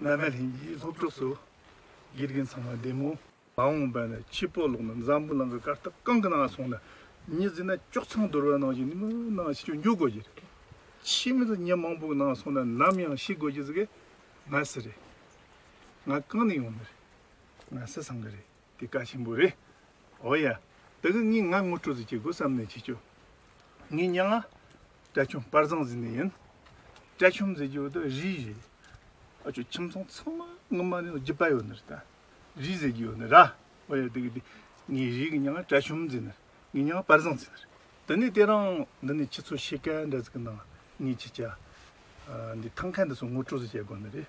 བླ་མའི་ལྷན་སྐྱེས་སློབ་གྲོགས་སུ། དགེ་རྒན་ཚང་མ་བདེ་མོ། མ་འོངས་པ་ན་ཁྱི་སྤོ་ལོག་ན་འཛམ་བུ་གླང་གི་སྐར་སྟབས་གང་གི་ནང་སོང་ན་མྱི་བཟི་ན་ཅོག་ཚང་དོར་བ་ནང་བཞིན་མི་ནང་ཕྱི་ཆོས་མྱོ་དགོས་ཀྱི་རེད། ཁྱི་མི་ཚོ་མྱི་མང་པོ་གི་ནང་སོང་ན་ནམ་ཡང་ཤི་དགོས་ཀྱི་ཟི་གི་མ་སི་རེད། ང་རྐང་ནས་ཡོང་ནི་རེད། ང་སི་སང་གི་རེད། འདི་བཀའ་ཆེན་པོ་རེད། འོ་ཡ། ད་གི་ངས་ང་ངོ་སྤྲོད་རྩིས་བྱེད་དགོས་བསམ་ནས་བྱེད་ཆོག། ངའི་སྙན་ངག། བཀྲ་ཆོམ་དཔར་བཟང་ཟེར་ནས་ཡིན། བཀྲ་ཆོམ་ཟེར་རྒྱུ་དེ་རིའི་རེད། ཨ་ཅོ་ཁྱིམ་ཚང་ཚང་མ་ངོ་མ་ནི་རྒྱུ་པ་ཡོད་ནི་རེད། རིའི་ཟེར་རྒྱུ་ཡོད་ནི་ར། འོ་ཡ་ད་གི་དེ། ངའི་རིའི་གི་སྙན་ངག་བཀྲ་ཆོམ་ཟེར་ནི་རེད། ངའི་སྙན་ངག་དཔར་བཟང་ཟེར་ནི་རེད། ད་ནི་དེ་རང། འདི་ནི་ཁྱེད་ཚོ་ཤེས་གལ་འདྲ་ཟིག་གི་ནང་ངས་ཁྱེད་ཅག། འདི་ཐང་ཁ་འདི་ཚོ་ངོ་སྤྲོད་རྩིས་བྱེད་དགོས་ནི་རེད།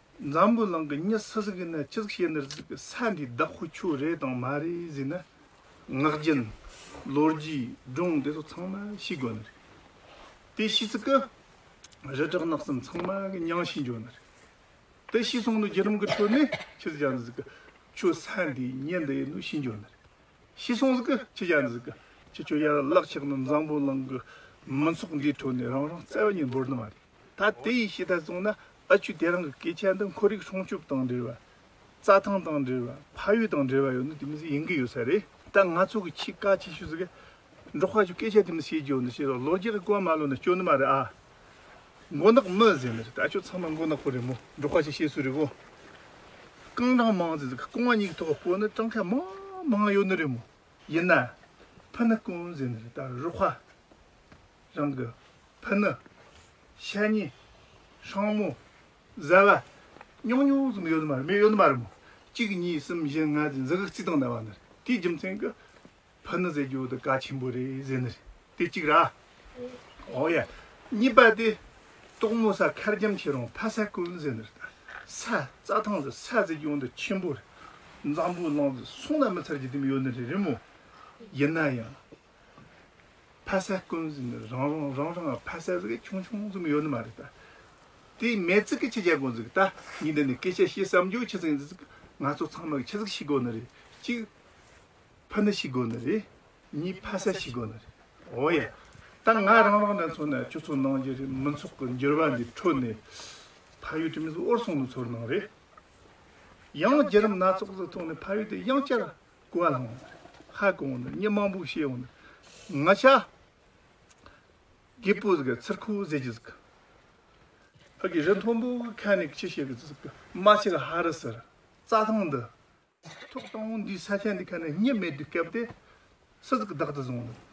འཛམ་བུ་གླིང་གི་གཉིད་སུ་ཟིན་གྱི་ནི་ཅི་ཟིག་བྱས་ནི་རྫིག་གི་ས་འདིའི་བདག་ཁོ་ཁྱོད་རེད་དང་མ་རེད་ཟིན་ན། ངག་རྒྱུན། ལོ་རྒྱུས། སྒྲུང་དེ་ཚོ་ཚང་མ་ཤི་དགོས་ནི་རེད། དེ་ཤི་ཚིག་གི། རི་བྲག་ནགས་གསུམ་ཚང་མ་གི་མྱང་ཤི་འགྱོ་ནི་རེད། དེ་ཤི་སོང་ནི་རྒྱུ་རིམ་གི་ཁྲོད་ནས་ཁྱི་ཟིག་ཀྱང་ཟིག་གི། ཁྱོད་ས་འདིའི་གཉིད་འདི་ཡི་ནི་ཤི་འགྱོ་ནི་རེད། ཤི་སོང་ཟིག་གི་ཁྱི་ཀྱང་ཟིག་གི། ཁྱི་ཁྱོད་ཡར་བརླག་ཆགས་ནི་འཛམ་བུ་གླིང་གི། མི་ཚོགས་འདིའི་ཁྲོད་ནས་རང་རང་བརྩེ་བ་གཉིས་འབོར་ནི་མ་རེད། ད་དེ་ཡི་ཤེས་ལྟར་བཙུགས་ན་ཨ་ཆུ་དེ་རང་གི་སྐད་ཆ་འདི་འཁོར་རིགས་སྲུང་སྐྱོབ་དང་འབྲེལ་བ། རྩྭ་ཐང་དང་འབྲེལ་བ་ཕ་ཡུལ་དང་འབྲེལ་བ་ཡོད་ན་དེ་མི་སྲིད་ཡིན་གྱི་ཡོད་ས་རེད། ད་ང་ཚོ་གི་ཆེས་བཀའ་ཆེ་ཤོས་ཟེར་གི། འབྲོག་ཁ་ཆུ་སྐད་ཆ་དེ་མི་སྲིད་ཀྱི་ཡོད་ན་ཤེས་རོགས་ལོ་རྒྱུས་ཀྱི་སྐོར་མ་ལོན་ན་སྐྱོ་ནི་མ་རེད་ཨ། མགོ་ནག་མི་ཟེར་ནི་རེད་ཨ་ཆོས་ཚང་མ་མགོ་ནག་པོ་རེད་མོ་འབྲོག་ཁ་ཆུ་ཤེས་ཚོད་རེད་གོ། རྐང་གྲངས་མང་ཟེར་གི་རྐང་བ་གཉིས་ཀྱི་ཐོག་གི་པོ་ནི་གྲངས་ཁ་མང་མང་ཡོད་ནི་རེད་མོ། ཡིན་ན། ཕུ་ནག་ཀུན་ཟེར་ནི་རེད་ད་རུ་ཁ། རང་གི་ཕུ་ནུ། ཤ་ཉེ། ཧྲང་མོ། བཟའ་བ། ཉུང་ཉུང་ཙམ་ཡོད་མ་རེད་མི་ཡོད་མ་རེད་མོད། གཅིག་གཉིས་གསུམ་བཞི་ལྔ་ཅེས་འཛིན་ཁག་གཅིག་དང་ལྡན་བ་ནི་རེད། དེའི་རྒྱུ་མཚན་གྱིས། ཕུ་ནུ་བཟས་རྒྱུ་དེ་དཀའ་ཆེན་པོ་རེད་ཟེར་ནི་རེད། དེ་གཅིག་ར། ཨོ་ཡ། གཉིས་པ་དེ། ཏོག་མོ་ས་ཁར་འཇམ་ཆེ་རུང་ཕ་ས་ཀུན་ཟེར་ནི་རེད། ས་རྩ་ཐང་ཟེར་ས་བཟས་རྒྱུ་འདི་ཆེན་པོ་རེད། འཛམ་བུའི་གླང་ཟེར་སོང་ན་མི་ཚར་རྒྱུ་དེ་མི་ཡོད་ནི་རེད་མོད། ཡིན་ན་ཡང། ཕ་ས་ཀུན་གཟིགས་ནི་རང་རང་རང་རང་གི་ཕ་ས་གཟིགས་ཀྱི་ཆུང་ཆུང་ཙམ་ཡོད་ནི་མ་རེད་ད། དེ་མེད་ཚིག་གི་ཁྱི་སྐྱ་ཀུན་གཟིགས་ད་ངས་འདི་ནས་སྐད་ཆ་བཤད་བསམ་རྒྱུ་ཁྱི་ཚིག་འདི་ཚིག་ང་ཚོ་ཚང་མ་གི་ཁྱི་ཚིག་ཤིག་དགོས་ནི་རེད་གཅིག། ཕུ་ནི་ཤིག་དགོས་ནི་རེད་གཉིས་ཕ་ས་ཤིག་དགོས་ནི་རེད་འོ་ཡ། ད་ང་རང་རང་ནས་ཚོགས་ནས་ཁྱོད་ཚོ་ནང་རྒྱ་རིགས་མི་ཚོགས་ཀྱི་འགྱུར་བ་འདི་འཕྲོད་ནས། ཕ་ཡུལ་དེ་མིན་ཚོ་ཨོར་སོང་ནི་ཚོར་གནང་རེད། ཡང་རྒྱ་རིམ་སྣ་ཚོགས་ཚོ་ཐོག་ནས་ཕ་ཡུལ་དེ་ཡང་བསྐྱར། ཀུན་བླང་བ། ཧ་ཀུན་བླང་བ། སྙིང་མང་པོ་ཤེས་བླང་བ། ང་ཤ། གི་པུ་ཟིག་གི་ཚིར་ཁུ་ཟེ་གྱི་ཟིག། ཨ་གི་རི་མཐོན་པོ་གི་ཁ་ནི་ཁྱི་ཤེས་གི་ཟིག། མ་ཆི་གི་ཧ་རི་ཟིར། རྩྭ་ཐང་འདི། ཐུག་ཐོང་འདི་ས་ཆ་འདི་ཁ་ནི་སྙེ་མེད་དུ་སྐྱབས་ཏེ། སི་ཟིག་བདག་ཏུ་བཟུང་ལ།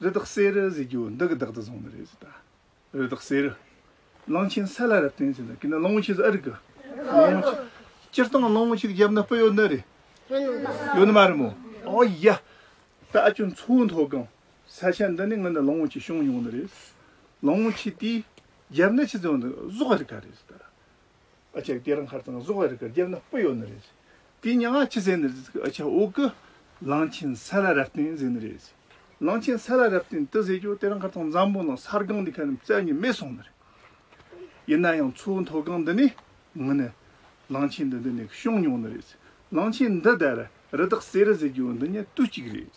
རི་དྭགས་གསེར་རི་ཟེར་རྒྱུ་འདི་གི་བདག་ཏུ་བཟུང་ནི་རེད་ཟེར་ད། རི་དྭགས་གསེར་རི། གླང་ཆེན་ས་ལ་རབ་བརྟན་ཟེར་ན་ཀི་ན་གླང་བོ་ཆེ་ཟེར་ཨ་རིག་གི། གླང་བོ་ཆེ། སྤྱིར་བཏང་གླང་བོ་ཆེ་གི་རྒྱབ་ན་སྤུ་ཡོད་ནི་རེད། ཡོད་ནི་མ་རེད་མོ། ཨོ་ཡ། ད་ཨ་ཅོ་མཚོ་བོའི་མཐོ་སྒང་ས་ཆ་འདི་ནས་ང་ནི་གླང་བོ་ཆེ་བྱུང་མྱོང་ནི་རེད། གླང་བོ་ཆེ་དེའི་རྒྱབ་ན་ཆུ་ཚོད་འདི་གཟོག་ག་རི་ག་རེད་ཟེར་ད། ཨ་ཆ་སྐྱེ་ར་མཁར་དང་གཟུགས་བར་གར་རྒྱབ་ན་སྤུ་ཡོད་ནི་རེད། དེའི་མྱ་ངག་ཕྱི་གསལ་ནི་རེད་ཨ་ཆ་འོག་གི་གླང་ཆེན་ས་ལ་རབ་བརྟན་ཟེར་ནི་རེད། གླང་ཆེན་ས་ལ་རབ་བརྟན་དུ་ཟེར་རྒྱུ་དེ་ར་མཁར་དང་འཛམ་བུ་ནང་ས་སྒང་འདི་ག་རྣམས་བཙལ་ནས་མེད་སོང་ནི་རེད། ཡིན་ན་ཡང་མཚོའི་མཐོ་སྒང་འདི་ནས་ངུ་ནི། གླང་ཆེན་འདི་འདི་ནས་བྱུང་མྱོང་ནི་རེད། གླང་ཆེན་འདི་དར་རི་དག་སེ་རི་ཟེར་རྒྱུ་འདི་ཉིད་དུས་གཅིག་རེད།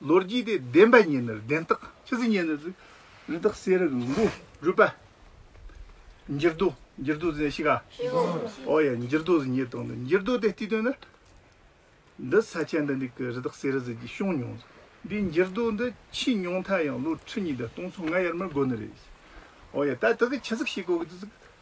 ལོ་རྒྱུས་ཏེ་བདེན་པའི་གཉེན་ནི་བདེན་རྟགས། ཕྱི་ཚུལ་གཉེན་ནི་རིག་རྟགས་གསལ་རིག་ལུང་པོ་རུས་པ། འགྱུར་རྡོ་འགྱུར་རྡོ་ཟེར་ན་ཤི་ག། ཨོ་ཡ་འགྱུར་རྡོ་ཟེར་ཉེས་བརྡོག་འདི་འགྱུར་རྡོ་དེ་དུས་སྟོན་ན། འདི་ས་ཆ་འདི་འདི་གི་རི་དྭགས་གསེར་རི་ཟེར་གྱི་ཤོང་མྱོང། འདི་འགྱུར་རྡོ་འདི་ཕྱིས་མྱོང་མཐའ་ཡང་ལོ་ཁྲི་གཉིས་དང་སྟོང་ཚོ་ལྔ་ཡར་མར་འགོར་ནི་རེད། ཨོ་ཡ་ད་དེ་གི་ཆི་ཟིག་ཤི་གོ་གི་དུས་ཟིག་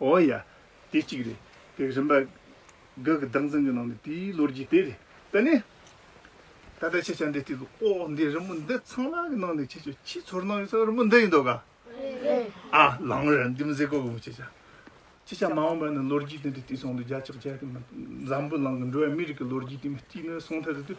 ཨོ་ཡ། དེ་གཅིག་རེད། དེ་རིམ་པ། འགའ་གི་བདག་འཛིན་གྱི་ནང་ནས་དེའི་ལོ་རྒྱུས་དེ་རེད། དེ་ནས། ད་ལྟ་ཁྱེད་ཅག་འདིར་བལྟས་འདུག་ཨོ་འདི་རི་མོ་འདི་ཚང་ལག་གི་ནང་ནས་ཁྱེད་ཅག་ཕྱིའི་ཚོར་སྣང་ཡོད་ས་རི་མོ་འདི་ཡིན་འདུག་ག། རེད། ཨ། ལང་རེད་འདི་མི་ཟེར་དགོས་གི་མོད་ཁྱེད་ཅག། ཁྱེད་ཅག་མ་འོངས་པ་ནས་ལོ་རྒྱུས་དེ་འདྲ་བལྟས་སོང་དུས་རྒྱ་ཕྱོགས་རྒྱ་གར་གྱི་འཛམ་བུའི་ནང་གི་འགྲོ་བ་མིའི་རིགས་ཀྱི་ལོ་རྒྱུས་དེ་མི་གཅིག་ནས་སོང་ཐལ་དུ་དུས་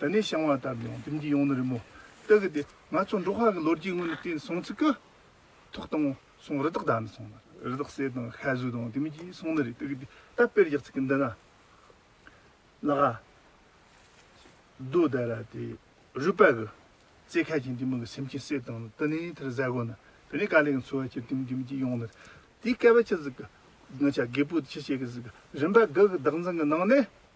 ད་ནི་བཤང་བ་ལྟར་ཡོང་ལྡེམ་གྱིས་ཡོང་ནི་རི་མོ་ལྟ་གི་དེ་ང་ཚོ་འབྲོག་ཁ་གི་ལོ་རྒྱུས་དངོས་ནི་དེ་སོང་ཚིག་གི། ཐུག་དང་སོང་རི་དྭགས་དག་ནི་སོང་ནི་རི་དྭགས་བསད་དང་ཤ་ཟོས་དང་ལྡེམ་གྱིས་སོང་ནི་རེད་ལྟ་གི་དེ་ད་དཔེར་རྒྱག་ཚིག་གི་འདི་ན། ལ་ག། རྡོ་དེ་ར་དེ་རུས་པ་གི། རྩེ་ཁ་གྱིས་འདི་མི་གི་སེམས་ཅན་བསད་དང་ལྟ་ནི་དེར་བཟའ་དགོས་ནི་དེ་ནི་ཀ་ལས་གི་འཚོ་བ་སྐྱེལ་ལྡེམ་ལྡེམ་གྱིས་ཡོང་ནི་རེད་དེ་སྐལ་བ་ཅི་ཟིག་གི། ང་ཆ་རྒད་པོ་དེ་ཅི་བྱེད་གི་ཟིག་གི་རིམ་པ་དགུ་གི་བདག་འཛིན་གི་ནང་ནས།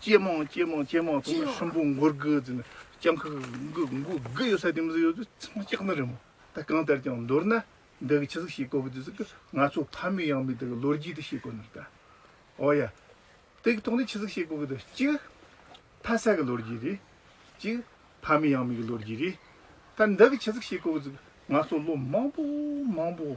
ཅེས་རྨོངས་ཅེས་རྨོངས་ཅེས་རྨོངས་ཚོགས་ལ་ཤམ་བུ་མགོར་དགུ་བཙུད་ནས་སྤྱང་ཁུག་གུག་གུག་གུག་ཡོད་ས་དེ་མི་ཟིག་ཡོད་དུས་ཚང་སྐྱག་ནི་རེད་མོ་ད་གང་ལྟར་ཀྱང་མདོར་ན་འདི་གི་ཁྱི་ཟིག་ཤེས་དགོ་གི་འདུག་ཟེར་གི་ང་ཚོ་ཕ་མེས་ཡང་མེས་འདི་གི་ལོ་རྒྱུས་དེ་ཤེས་དགོ་ནི་རེད་ད་འོ་ཡ། དེ་གི་ཐོག་ནས་ཁྱི་ཟིག་ཤེས་དགོ་གི་འདུག་གཅིག་ཕ་ས་གི་ལོ་རྒྱུས་རེད་གཅིག་ཕ་མེས་ཡང་མེས་གི་ལོ་རྒྱུས་རེད་ད་འདི་གི་ཁྱི་ཟིག་ཤེས་དགོ་གི་འདུག་ང་ཚོ་ལོ་མང་པོ་མང་པོ།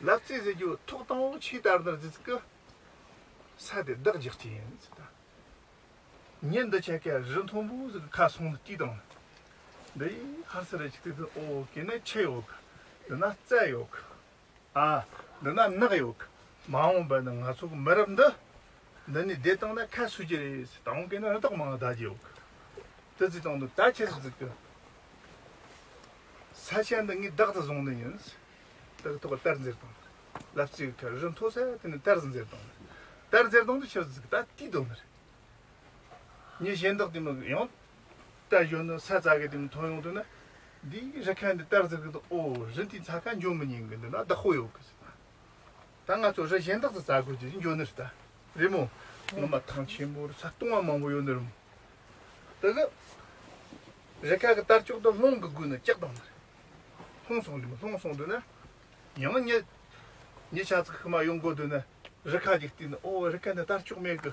ལ་བཙས་ཟེར་རྒྱུ་ཐོག་དང་བོ་ཆུའི་དར་དར་ཙི་ཙི་ཀི་ས་དེ་བདག་རྒྱག་རྒྱུ་ཡིན་ཟེར་ད་ཉིན་འདི་ཆད་ཁའི་རི་མཐོན་པོ་ཟིག་གི་ཁ་སོང་ལ་དཀྱུས་དང་འདི་ཡིས་ཧར་སེར་རེ་ཆིག་ཐིག་ཐིག་ཨོ་གི་ནི་ཆུ་ཡོད་གི་འདི་ན་བཙས་ཡོད་གི་ཨ་འདི་ན་ནགས་ཡོད་གི་མ་འོངས་པ་ནི་ང་ཚོ་གི་མི་རབས་འདི་འདི་ནས་བདེ་བཏང་ན་ཁ་སུ་རྒྱུ་རེད་ཟེར་ད་འོང་གི་ནི་རི་དྭགས་མང་ད་རྒྱུ་ཡོད་གི་ཏི་ཙི་དང་འདི་ད་ཆད་ཟིག་ཙི་ཀི། ས་ཆ་འདི་ངས་བདག་ཏུ་བཟུང་ནི་ཡིན། དག་ཐོག་གཏེར་འཛེར་དང། ལབ་རྩེ་ཡི་ཁར་རི་མཐོ་སར་དེ་ནས་གཏེར་འཛེར་དང། གཏེར་འཛེར་དང་དུ་ཆུ་བརྫིག་ད་ལྟའི་དོན་མི་རེད། ཉིན་གཞན་དག་དེ་མི་དགོས་ཡང། གཏེར་གཞོན་ནུ་ས་རྩ་གི་དེ་མི་མཐོང་ཡོང་དུས་ན། འདིའི་རི་ཁ་འདི་གཏེར་འཛེར་གི་འདུག་ཨོ་རི་འདིའི་ཚ་ཁ་འཇོམས་མི་ཉན་གི་འདུག་ན་བདག་ཧོ་ཡོད་གི་ཟེར། ད་ང་ཚོ་རི་གཞན་དག་ཏུ་བཙའ་དགོས་ཀྱི་འགྱོ་ནི་རེད་ད། རེད་མོ། ངོ་མ་ཐང་ཆེན་པོ་རུ་ས་སྟོང་བ་མང་པོ་ཡོ་ནི་རུ་མོ། ད་གི། རི་ཁ་གི་ལྟར་ལྕོག་ཏུ་ལྷོང་གི་དགོས་ནི་ལྕག་དང་ནི་རེད། ལྷོང་སོང་རེད་མོ་ལྷོང་སོང་དུ་ནི། ཉི་མ་ཉི། ཉི་ཆ་ཚིག་ཁི་མ་ཡོང་དགོས་དུ་ནི་རི་ཁ་ཅིག་བརྟིས་ནི་ཨོ་རི་ཁ་ནི་ལྟར་ལྕོག་མེད་གི།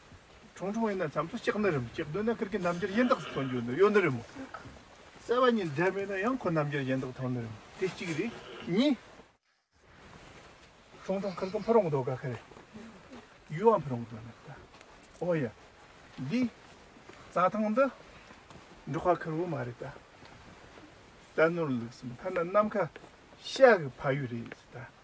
ཁྲུང་ཁྲུང་ཡིན་ན་བྱམས་སོ་གཅིག་ནི་རིམ་གཅིག་སྡོད་ན་ཁིར་གི་རྣམ་འགྱུར་ཡེ་འདགས་སུ་མཐོང་རྒྱུ་ནི་གཡོ་ནི་རིམ་མོ། གསལ་བ་གཉིས་འབྲེལ་མེད་ན་ཡང་ཁོ་རྣམ་འགྱུར་ཡེ་འདགས་མཐོང་ནི་རིམ་མོ་དེ་གཅིག་རེད། གཉིས། ཁྲུང་ཁྲུང་ཁིར་གི་འཕུར་འོང་དོ་ག་ཁིར། ཡུལ་བ་འཕུར་འོང་དོ་ནི་རྟ། ཨོ་ཡ། འདི། རྩྭ་ཐང་འདི། འབྲོག་ཁ་ཁིར་བུ་མ་རེད་རྟ། རྟ་ནོར་ལུགས་སམ་ཐ་ན་ནམ་མཁའ། ཤ་གི་ཕ་ཡུལ་རེད་རྟ།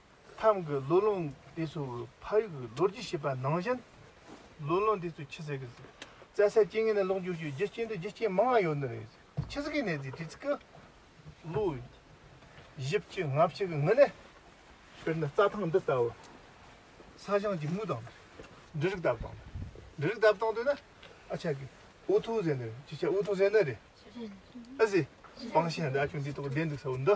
མཚམས་ཀྱི་ལོ་ལོན་དེ་ཚོ་གི་ཕ་ཡུལ་གྱི་ལོ་རྒྱུས་ཤེས་པ་ནང་བཞིན་ལོ་ལོན་དེ་ཚོ་ཁྱི་ཟས་ཀྱི་བཙའ་སའི་སྐྱེ་དངོས་ནས་ལོག་འཇུག་བྱེད་རྒྱུ་རྐྱེན་དུ་རྒྱུ་རྐྱེན་མང་བ་ཡོད་ནི་རེད། ཁྱི་ཟས་ཀྱི་ནད་དེ་དུས་ཚིགས་ཀྱི་ལོ་བཞི་བཅུ་ལྔ་བཅུ་གི་སྔོན་ནས་དཔེར་ན་རྩྭ་ཐང་འདི་ལྟ་བུ་ས་གཞང་གི་མུ་དང་འབྲུ་རིགས་བཏབ་སྟངས་འབྲུ་རིགས་བཏབ་སྟངས་དུ་ན་ཨ་ཆ་གི་འུ་ཐུག་ཟས་ནི་རེད་ཅི་ཆ་འུ་ཐུག་ཟས་ནི་རེད། ཨ་ཟེ། སྤང་ཤ་འདི་ཨ་ཆུང་འདི་ཐོག་བསྡད་འདུག་ས་བོན་འདི།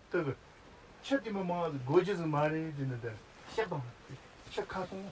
ལྟ་གི། ཕྱི་དེ་མི་མང་སྒོ་རྒྱུ་ཟིག་མ་རེད་ཅེས་ནི་བདེར་གཤེགས་དང། ཕྱི་ཁ་སྟོང།